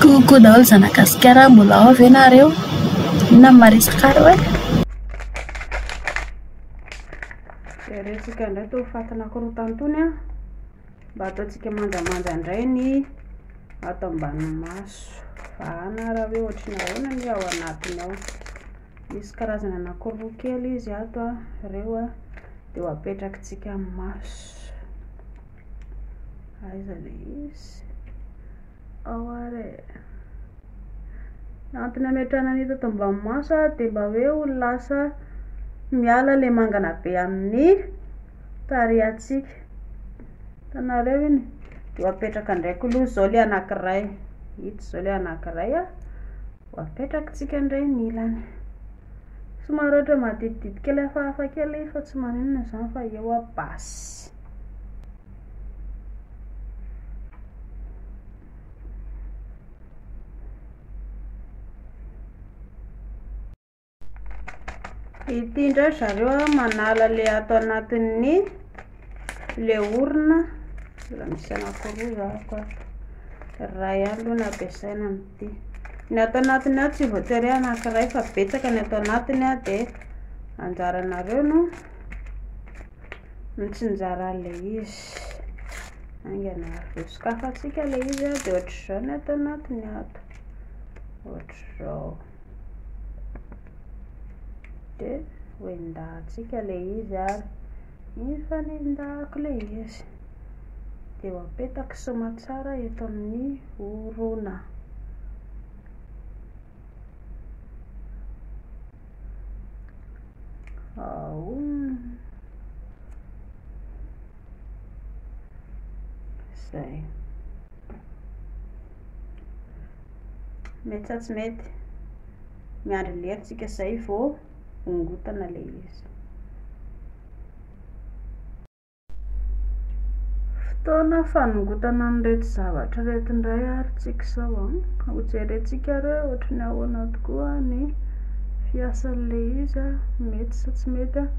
Coucou daholo zanagasikara a! Mbola ao ve nareo? Inona no maresaka reo eh? Jerentsika indray tony fatin'akorotany tony a! Mba ataontsika manjamanja indray ny ato ambany maso. Vahana raha hoe ohatry ny ahoana ny ao anatiny ao. Misy karazana anankiroa kely izy ato a, ireo a, dia ho apetrakitsika amin'ny maso. Aiza le izy? Ao ary e. Ny antony ametrahana an'ito ato ambany maso a, dia mba hoe ho lasa miala le mangana be amin'ny tarehantsika. Hitanareo iny? Dia ho apetraka ndraiky aloha izao le anankiray. Ito izao le anankiray a. Ho apetrakintsika indray ny ilany. Somary ohatra maditidity kely hafahafa kely izy fa tsy maninona izany fa eo a basy. Ity indray ry zareo a, manala le ato anatin'ny le orona. Mbola misy anankiroa zahako ato. Iray ihany aloha no ampiasaina amin'ity. Ny ato anatiny ato tsy voatery hoe anankiray fa betsaka ny ato anatiny a dia anjaranareo no mitsinjara an'ilay izy. Haingana avy sokafantsika ilay izy a dia ohatr'izao ny ato anatiny ato. Ohatr'izao. Dia hoendahantsika ilay izy ary efa nendahako ilay izy. Dia apetako soamantsara eto amin'ny orona. Ao. Izay. Mety sa tsy mety? Miandry lera tsika izay vao hongotana ilay izy. Fotoana fanongotana an'ireto zavatra ireto indray ary tsika izao an. Hojerentsika ary hoe ohatry ny ahoana tokoa ny fiasan'ilay izy an. Mety sa tsy mety an.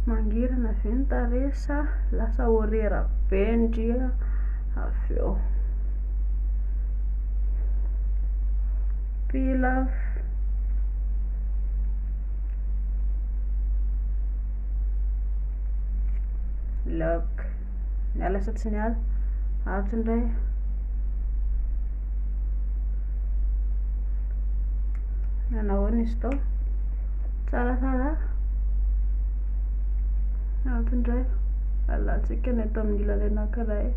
Mangirana ve ny tarehy sa lasa orera be ndry an. Avy eo. Pilaf. Lock. Miala sa tsy miala? Atsy indray. Nanao izy tao. Tsaratsara. Antony indray alantsika ny ato amin'ny ilany anankiray.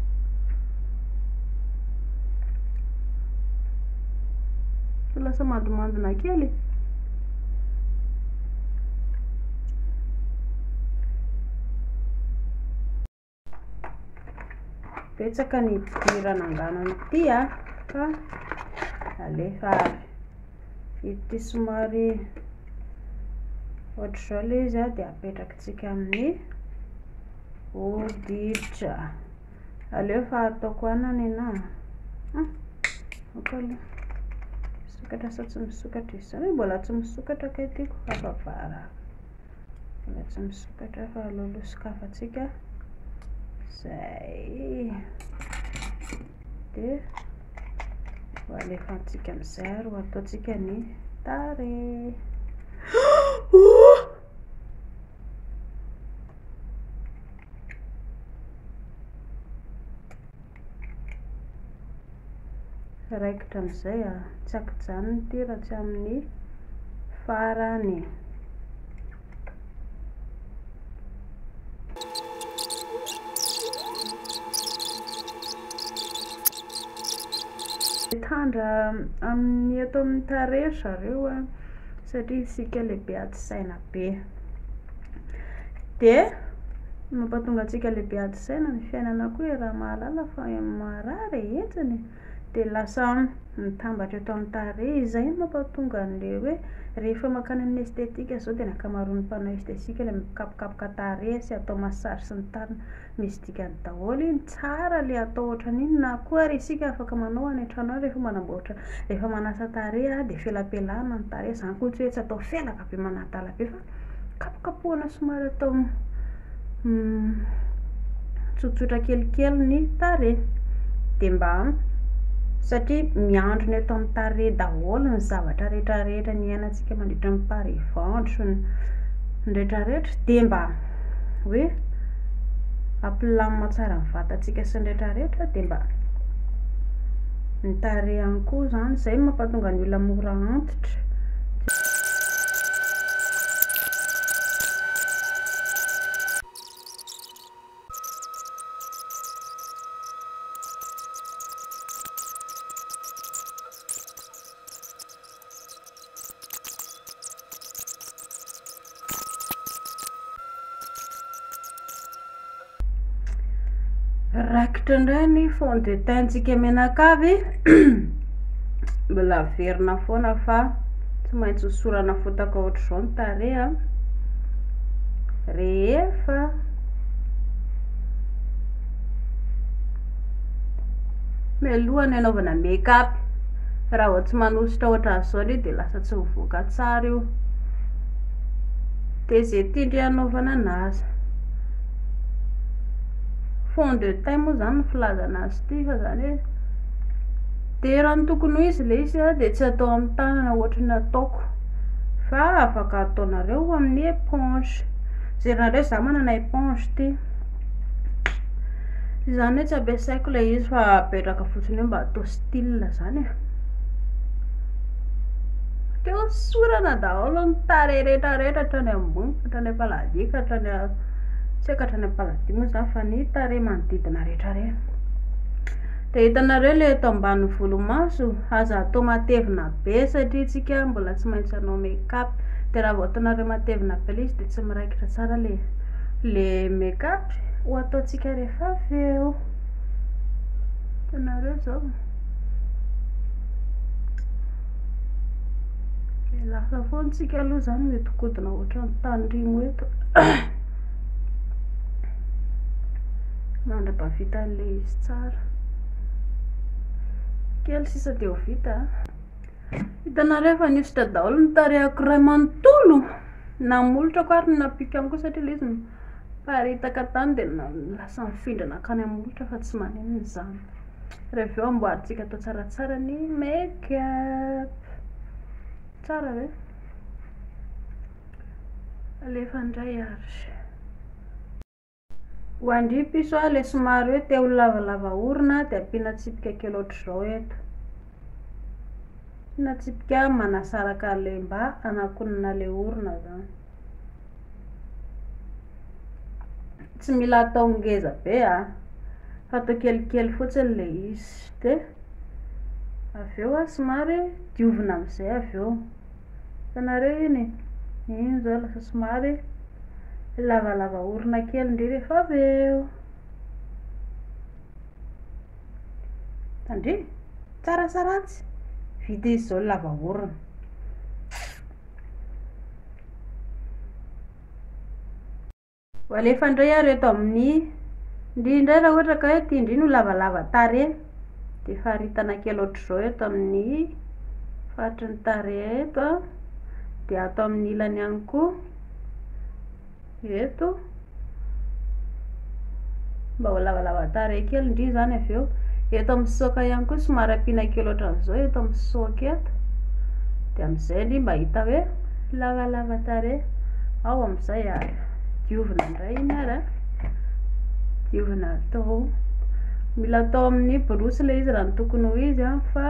Tsy lasa mandimandina kely. Betsaka ny idiran' angano ity a, fa alefa avy. Ity somary ohatr'izao ilay izy a, dia apetraka. Tsika amin'ny hoditra. Aleo fa ataoko anana ina. Hmm. Oko aloha. Misokatra sa tsy misokatra izy. Zany mbola tsy misokatra kay tiako hafa vara. Mbola tsy misokatra fa aleo aloha sokafantsika. Zay. Dia ho alefantsika amin'izay ary ho ataontsika ny tarehy. raikitra amin'izay a, tsy ankijanona ity raha tsy amin'ny farany. Mitandra amin'ny eto amin'ny tarehy ry zareo a. satria isika lehibe ady saina be. Dia mampatonga antsika lehibe ady saina ny fiainana koa e, raha mahalala fa marary e, enjana e, dia lasa mitambatra eto amin'ny tarehy. Izay no mampatonga an'ilay hoe rehefa mankany amin'ny esthétique izao dia ny ankamaroan'ny mpanao esthétique ilay mikapokapoka tarehy sy atao massage sy ny tariny. Misy dikany daholo iny, tsara le atao ohatran'iny, na koa ary isika afaka manao any an-trano any rehefa manamboatra, rehefa manasa tarehy a de felapelahana ny tarehy, zany koa tsy hoe tsy atao felaka be manadala be fa kapokapohana somary atao tsotsotra kelikely ny tarehy, de mba satria miandrona eto amin'ny tarehy daholo ny zavatra rehetrarehetra niainantsika mandritra ny pari-ventro, ny retraretra, de mba. hoe ampilamina tsara ny vatantsika sy ny rehetra rehetra dia mba ny tarehy ihany koa izany, izay no mampahatonga ny olona mora antitra. Rakitra indray ny fond de teint-tsika menakavy mbola averina foana fa tsy maintsy hosorana fotaka ohatr'izao ny tareha rehefa Mialoha ny hanaovana make up, raha vao tsy manosotra ohatran'izao anie dia lasa tsy mivoaka tsara io, dia izay tian-dry hanaovana an'azy, fond de teint moa zany no filazana azy ity fa zany hoe, dia raha ny tokony ho izy ilay izy dia tsy atao amin'ny tanana ohatry ny ataoko, fa afaka ataonareo amin'ny éponge, jerenareo za manana éponge ity. Izany hoe tsy ampiasaiko ilay izy fa apetraka fotsiny eo mba atao style zany e. Te hosorana daholo ny tarehy rehetra rehetra hatrany ambony ka hatrany am-paladia ka hatrany a- tsy haiko hatrany am-paladia moa zany fa ny tarehy manodidina rehetra rehetra. De hitanareo ilay eto ambany volomaso, aza atao matevina be satria isika mbola tsy maintsy hanao make up, de raha vao ataonareo matevina be ilay izy de tsy miraikitra tsara ilay. Le make up ho ataontsika rehefa avy eo. Hitanareo izao. Dia lasa foana tsika aloha izany mihodinkodina ohatran'ny tanirimo eto. Mandra-bavita an'ilay izy tsara. Kely sisa dia ho vita. Hitanareo efa nihosotra daholo ny tarehako iray manontolo. Namolotra ko ary ny nampiko ihany koa satria ilay izy niparitaka tany dia lasa nifindra nankany amin'ny molotra fa tsy maninona izany. Ary avy eo amboarintsika atao tsaratsara ny make up. Tsara ve? Alefa indray ary. Ho an-dry piso a, le somary hoe te ho lavalava orona de ampiana tsipika kely ohatr'izao eto. Ampiana tsipika manasaraka an'le mba hanakonana le orona zany. Tsy mila atao ngeza be a, fa atao kelikely fotsiny le izy de avy eo a somary diovina am'zay avy eo. Hitanareo iny e, iny izao lasa somary lavalava orona kely indray rehefa avy eo. Tandremo, tsara sa ratsy? Vita izy izao ny lava orona. Ho alefa indray ary eto amin'ny ndry indray raha ohatra ka hoe ity ndry no lavalava tarehy dia faritana kely ohatr'izao eto amin'ny faritry ny tarehy eto an dia ato amin'ny ilany ihany koa eto Mba ho lavalava tarehy kely ndry izany avy eo. Eto amin'ny soka ihany koa somary ampiana kely ohatran'izao eto amin'ny soka eto. Dia amin'izay ndry mba hita hoe lavalava tarehy. Ao amin'izay ary diovina indray iny ary a. Diovina atao. Mila atao amin'ny borosy ilay izy raha ny tokony ho izy an fa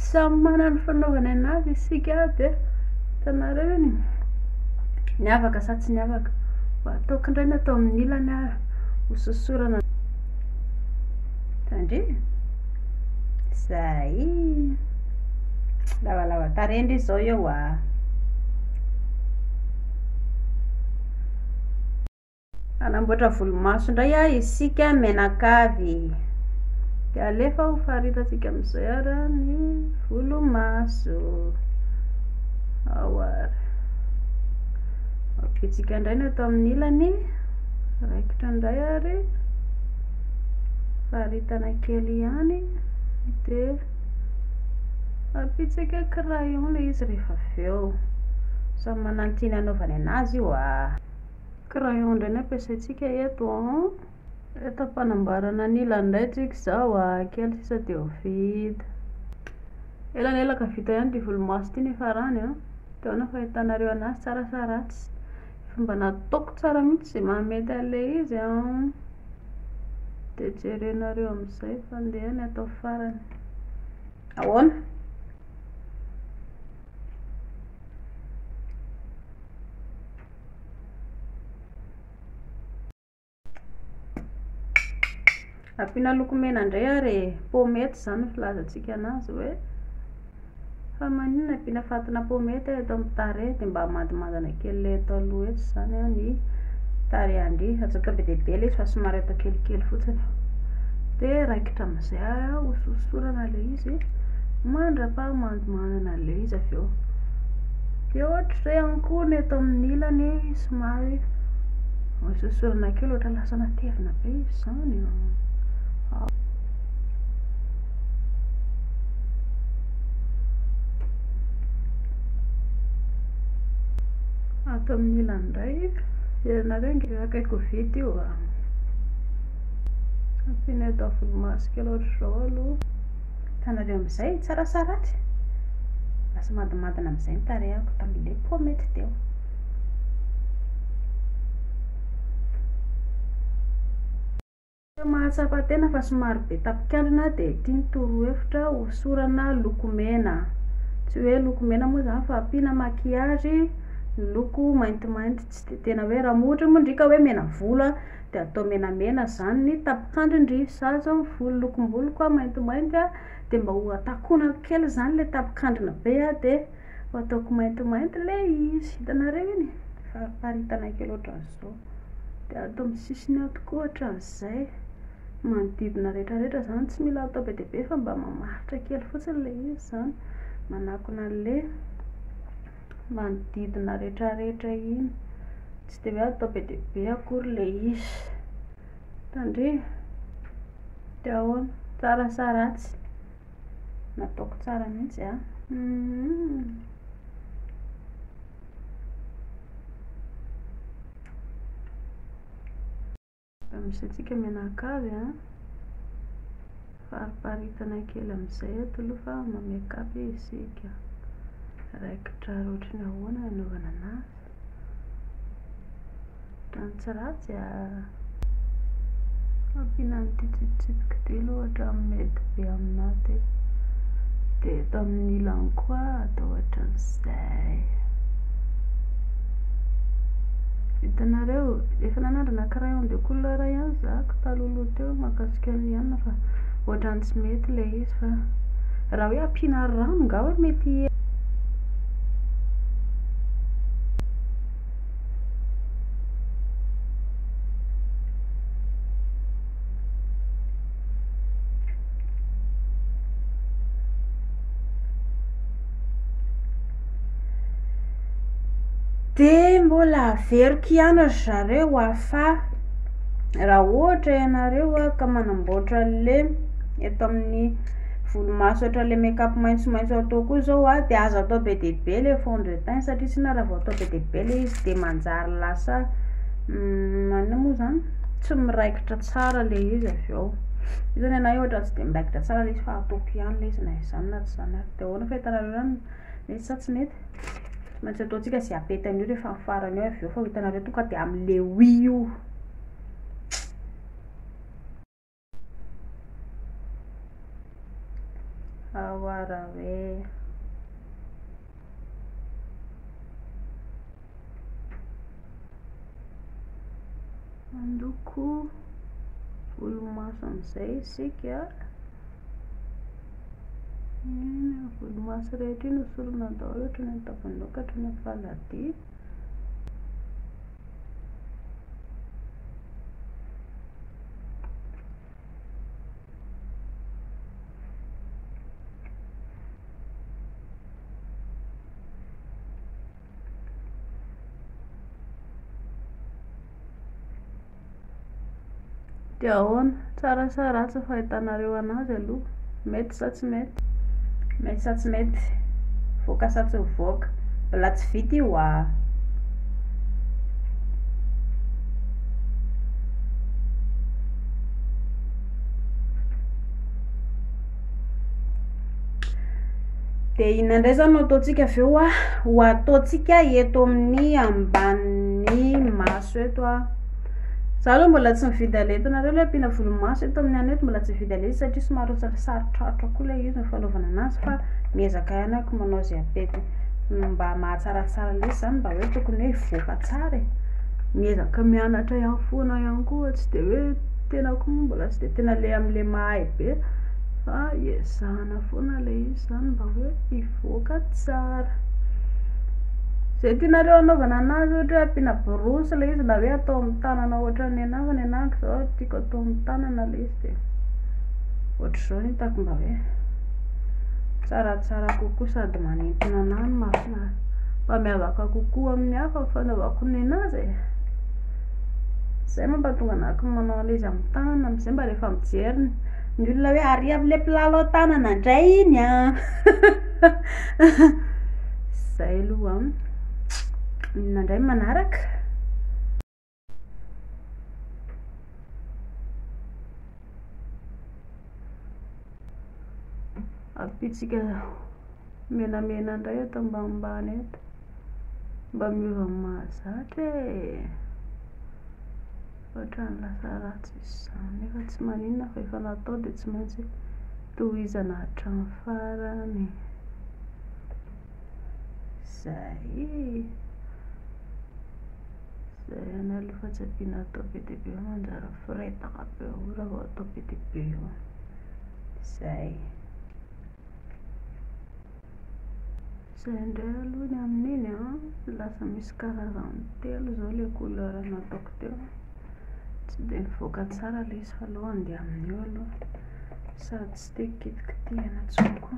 samy manana ny fanaovana anazy isika dia hitanareo iny. Ny avaka sa tsy ny avaka. Mba ataoko indray ny atao amin'ny ilany ary. hososorana tandremo zay lavalava tarehy ndry zao eo a anamboatra volomaso ndray a isika menakavy de alefa ho faritatsika amizay ara ny volomaso ao ara ampitsika ndray ny ato amin'ny ilany Raikitra indray ary, faritana kely ihany dia ampitsaka crayon ilay izy rehefa avy eo. Samy manana ny tiany hanaovany an'azy io a. Crayon indray no ampiasaintsika eto an. Eto am-panamboarana ny ilany indray tsika izao a, kely sisa dia ho vita. Elanelaka vita ihany ity volomaso ity ny farany an. Dia ahoana ny fahitanareo an'azy, tsara sa ratsy? Fa mba nataoko tsara mihitsy izay maha mety an'ilay izy an! Dia jerenareo amin'izay fa ndeha ny atao farany. Ahoana? Ampiana loko mena indray ary e. Pomety izany ny filazantsika anazy hoe fa maninona ampiana fatina pomety eto amin'ny tarehy dia mba hamandimandina kely ilay eto aloha eto izany ny tarehin-dry. Aza atao be dia be ilay izy fa somary atao kelikely fotsiny. Dia raikitra amin'izay hososorana ilay izy mandra-paha. Manana an'ilay izy avy eo. Dia ohatr'izay ihany koa ny eto amin'ny ilany somary misosorana kely ohatran'ny lasa matevina be izy izany. Ato amin'ny ilany indray, ianareo nge akaiky ho vita io ah. Ampiana eto amin'ny volomaso kely ohatr'izao aloha. Hitanareo amin'izay, tsara sa ratsy? Lasa madimandina amin'izay ny tarehako tamin'ilay pomety teo. Mahatsapa tena fa somary be tapikandrina dia ity ny torohevitra, hosorana lokomena. Tsy hoe lokomena moa izany fa ampiana maquillage miloko maintimainty, tsy dia tena hoe raha moa ohatra moa ndry ka hoe mena volo an, dia atao menamena izany ny tapin-kandrin-dry zaza ny volo lokom-boloko a maintimainty a dia mba ho takonako kely izany ilay tapin-kandrina be a dia ho ataoko maintimainty ilay izy hitanareo iny e fariparitana kely ohatran'izao dia atao amin'ny sisiny ato koa ohatran'izay manodidina rehetrarehetra izany tsy mila atao be dia be fa mba mamaritra kely fotsiny ilay izy izany manakona an'ilay manodidina retraretra iny tsy dia hoe atao be dia be akory le izy tandremo de ahoana tsara sa ratsy nataoko tsara mihitsy a Misy antsika mianakavy an! Fariparitana kely amin'izay eto aloha fa ma-make up isika. Raikitra ohatry ny ahoana ny anaovana anazy? Ohatran'ny tsy ratsy a! Ampiana an'ity tsipitsipika ity aloha ohatran'ny mety be aminà ity. Dia eto amin'ny ilany koa atao ohatran'izay. Hitanareo, efa nanandrana crayon de couleur ihany za talohaloha teo mahakasika ny anona fa ohatran'ny tsy mety ilay izy fa raha hoe ampiana rano nga hoe mety hi Dia mbola averiko ihany ry zareo hoa fa raha ohatra ianareo hoa ka manamboatra an'le eto amin'ny volomaso ohatran'ilay make up maitsomaitso atao koa izao hoa dia aza atao be dia be ilay fond de teint satria tsinona raha vao atao be dia be ilay izy dia manjary lasa maninona moa izany tsy miraikitra tsara ilay izy avy eo, io izany anah ohatra tsy dia miraikitra tsara ilay izy fa ataoko ihany ilay izy na izany na tsy izany ary. Dia ahoana fahitanareo izany? Mety sa tsy mety? Tsy maintsy ataontsika izay apety an'io rehefa amin'ny farany eo avy eo fa ho hitanareo tonga dia amin'ny le oui io. Awara hoe. Mandoko volomaso amin'izay isika. Ny volomaso rehetra iny hosorana daholo hatrany amin'ny tavanao ka hatrany amin'ny faladiany. Dia ahoana? Tsara sa ratsy ny fahitanareo anazy aloha? Mety sa tsy mety? Mety sa tsy mety? Voaka sa tsy mivoaka? Mbola tsy vita io aa! Dia inona indray izany no ataontsika avy eo ah? Ho ataontsika eto amin'ny ambanin'ny maso eto ah. Za aloha mbola tsy mividy ale hitanareo ilay ampiana volomaso eto amin'ny anay eto mbola tsy mividy ale satria somary sarotrarotra koa ilay izy ny fanaovana anazy fa miezaka ihany ako manao izay apetiny mba mahatsaratsara lesy izany mba hoe tokony hoe hivoaka tsara e. Miezaka mianatra ihany foana ihany koa tsy dia hoe. tenako moa mbola tsy dia tena le amin'ilay mahay be fa iezahana foana ilay izy izany mba hoe hivoaka tsara. Izay tianareo hanaovana anazy ohatra hoe ampiana borosy ilay izy na hoe atao amin'ny tanana ohatra ny anah fa ny anah manko izao tiako atao amin'ny tanana ilay izy dia ohatr'izao no hitako mba hoe tsaratsara kokoa sady manintona anà no mahafinaritra mba miavaka kokoa amin'ny hafa ny fanaovako ny anazy e. Zay mampatonga anah ko manao an'le izy amin'ny tanana amzay mba rehefa mijery ny olona hoe ary amle mpilalao tanana ndray iny an! zay aloha an! inona ndray ny manaraka? Ampitsika menamena ndray eto ambanimbany eto. Mba miova ny mahazatra e! Ohatran'ny lasa ratsy izany nefa tsy maninona fa efa natao dia tsy maintsy tohizana hatramin'ny farany. Izay. Izay ihany aloha fa tsy ampiana atao be dia be eo manjary miforetaka be eo raha vao atao be dia be eo. Izay. Izay indray aloha ny amin'iny an, lasa misy karazany telo izao ilay couleur nataoko teo, tsy dia nivoaka tsara ilay izy fa aleo handeha amin'io aloha, sady tsy te hikitikitina intsony koa.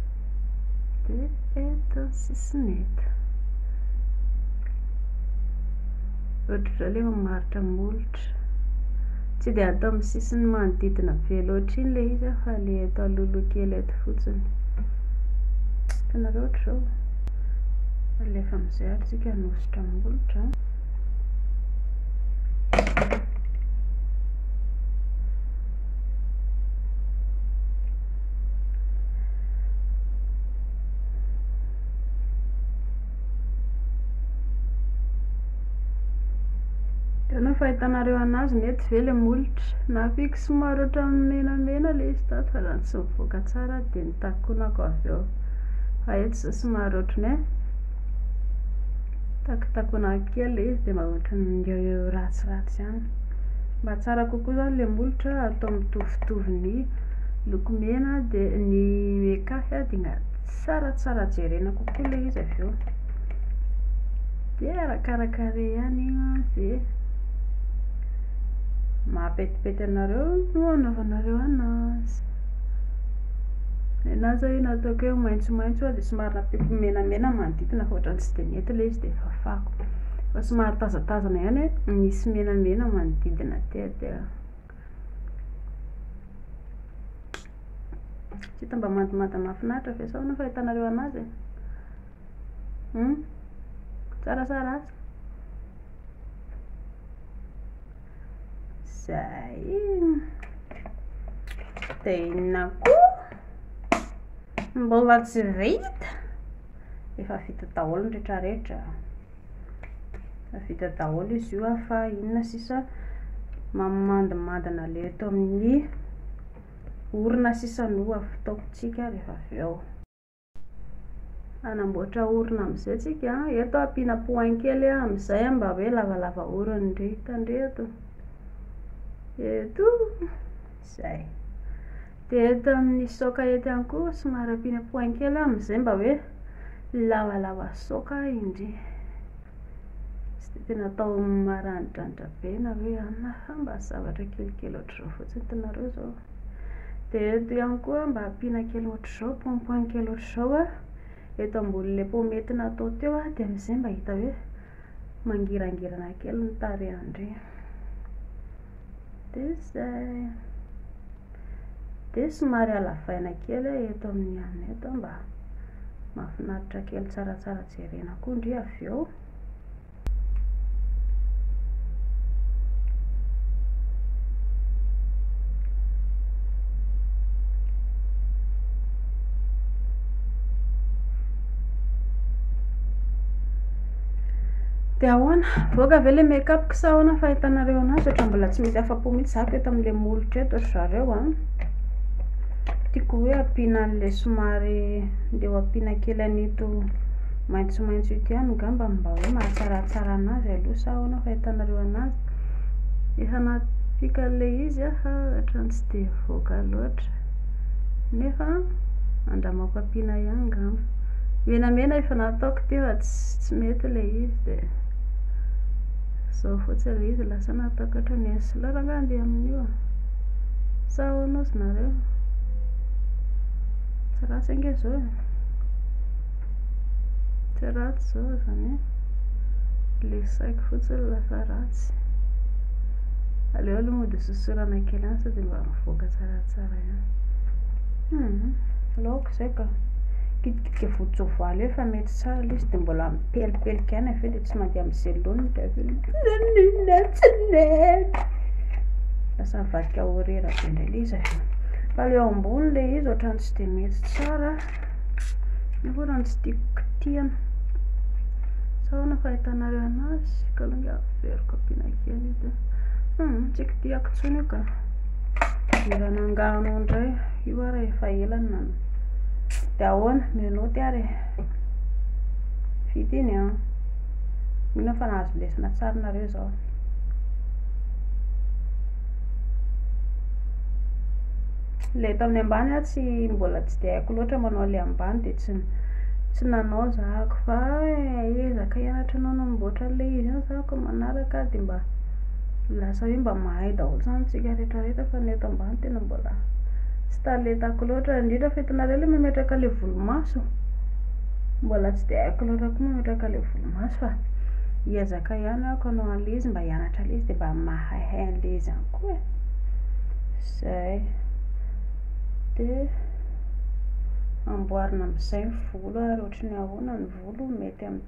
Dia eto ny sisiny eto. Ohatr'izao ilay mamaritra molotra. Tsy dia atao amin'ny sisiny manodidina be loatra iny ilay izy fa ilay eto alohaloha kely eto fotsiny. Hitanareo ohatr'izao. Alefa amin'izay ary tsika hanosotra molotra. Hitanao fahitanareo anazy ny etsy ve le molotra? Nahafiako somary ohatran'ny menamena le izy tato fa raha tsy mivoaka tsara dia nitakonako avy eo. Fa eto izao somary ohatran'ny hoe takitakonako kely le izy dia mba ohatran'ny ratsiratsy ihany. Mba tsara kokoa izany ilay molotra atao mitovitovy ny loko mena dia ny mekafy dia tsara tsara jerena kokoa ilay izy avy eo. Dia arakaraka rey ihany izay mahapetipety anareo no anaovanareo anazy. Ny anahy izao io nataoko hoe maitsomaitso dia somary nampiako menamena ny manodidina fa ohatran'ny tsy dia nety ilay izy dia fafako. Fa somary tazatazana ihany e, misy menamena manodidina aty a dia tsy hita mba mandomando mahafinaritra ve sao no fahitanareo anazy e? Hum? Tsara sa ratsy? Zay. Dia inona koa? Mbola tsy vita. efa vita daholo ny retraretra efa vita daholo izy io fa inona sisa mamandimandina le eto amin'ny orina sisa no ataokontsika rehefa avy eo hanamboatra orina amin'izay tsika eto ampiana poin kely amin'izay mba hoe lavalava orina indray hitandreto eto Zay. Dia eto amin'ny soka eto ihany koa somary ampiana point kely amin'izay mba hoe lavalava soka indry. Tsy dia tena atao maranidranitra be na hoe anona fa mba zavatra kelikely ohatr'izao fotsiny hitanareo izao. Dia eto ihany koa mba ampiana kely ohatr'izao point point kely ohatr'izao eto ambonin'ilay paomety natao teo dia amin'izay mba hita hoe Mangirangirana kely ny tarehan-dry. Dia izay. Dia somary halavaina kely aho eto amin'ny anona eto mba mahafinaritra kely tsaratsara jerena koa ndry avy eo. Dia ahoana? Mivoaka ve ilay make up-ko sa ahoana ny fahitanareo an'azy? Ohatra mbola tsy misy afa-po mihitsy zako eto amin'ilay molotra eto ry zareo an! Tiako hoe ampiana an'ilay somary ndeha ho ampiana kely an'ito maitsomaitso ito ihany angamba mba hoe mahatsaratsara an'azy aloha sa ahoana ny fahitanareo an'azy? Efa nampiaka an'ilay izy aho fa ohatran'ny tsy dia nivoaka loatra. Nefa andramaoko ampiana ihany ngamba. Menamena efa nataoko teo fa tsy mety ilay izy dia zao fotsiny ilay izy lasa nataoko ohatran'ny eny sy lora nga andeha amin'io a. Sa ahoana ozy nareo? Tsy ratsy ange izao e. Tsy ratsy izao izany hoe ilay saiko fotsiny lasa ratsy. Aleo aloha mody hososorana kely any sao dia mba mivoaka tsara. Raha tsara ihany. Hum, laoka izay ka. Kitikitika voan-tsoavaly eo fa mety tsara ilay izy dia mbola mipelipelika ihany avy eo dia tsy mandeha amin'ny zelony dia avy eo nanina tsy nety. Lasa mivadika ho rera be indray ilay izy avy eo. Fa ilay eo ambony ilay izy ohatran'ny tsy dia mety tsara. Nefa ohatran'ny tsy tiako kitihana. Sa ahoana fahitanareo anazy? Ka aloha ingahy averiko ampiana kely io dia. Hum, tsy kitihako intsony io ka. Hiran'ny angano indray io ary efa ela no nanao. Dia ahoana, menottes ary e. Vita iny an. Mino aho fa nahazo lesona tsara nareo izao. Ilay eto amin'ny ambany aho tsy mbola tsy dia haiko loatra manao ilay ambany dia tsy tsy nanao zahako fa eh, ezaka hianatra anao namboatra an'ilay izy io zahako manaraka dia mba Lasa hoe mba mahay daholo zany tsika rehetra rehetra fa ny eto ambany tena mbola tsy talentako loatra indrindra fa hitanareo le mametraka le volomaso mbola tsy de haiko loatra koa mametraka le volomaso fa hiezaka ihany ako anao an'le izy mba hianatra an'le izy de mba mahaihay an'le izy ihany koa e zay de amboarina am'zay ny volo ary ohatry ny ahoana ny volo mety am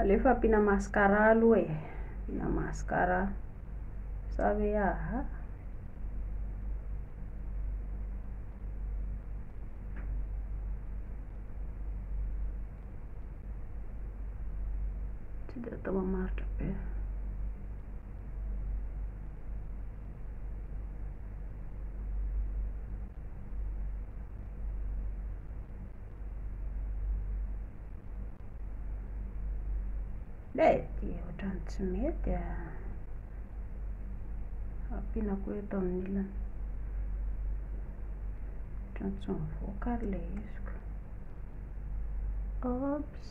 Aleo fa ampiana mascara aloha e. Ampiana mascara. Sa hoe aha. Tsy dia atao mamaritra be. Mety, ohatran'ny tsy mety a. Ampiana koa eto amin'ny ilany. Ohatran'ny tsy mivoaka ary ilay izy ka. Oops.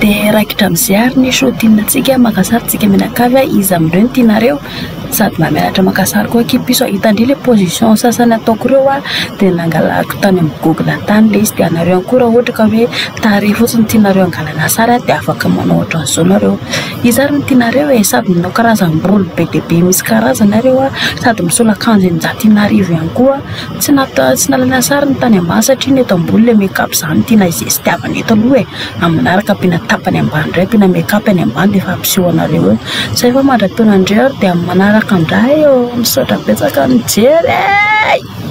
dia raikitra amin'izay ary ny shotinantsika maka sary tsika mianakavy a iza amin'ireo no tianareo sady mba mianatra maka sary koa akia piso a hitandry ilay position sasany ataoko ireo a dia nangalako tany amin'ny google tany ilay izy dia anareo ihany koa raha ohatra ka hoe tarehy fotsiny no tianareo hangalana sary a dia afaka manao ohatran'izao nareo Iza ary no tianareo e? Sady manao karazam-bolo be dia be misy karazana ary eo a, sady misolo akanjo eninjato ina arivo ihany koa. Tsy nata- tsy nalaina sary ny tany ambany satria ny eto ambony ilay make up izany no tiana izestiavana eto aloha e. Amin'ny manaraka ampiana tapany ambany indray, ampiana make up any ambany dia efa ampiseho anareo eo. Izay fa mandra-peo anareo ary dia amin'ny manaraka indray ô. Misaotra betsaka nijery e!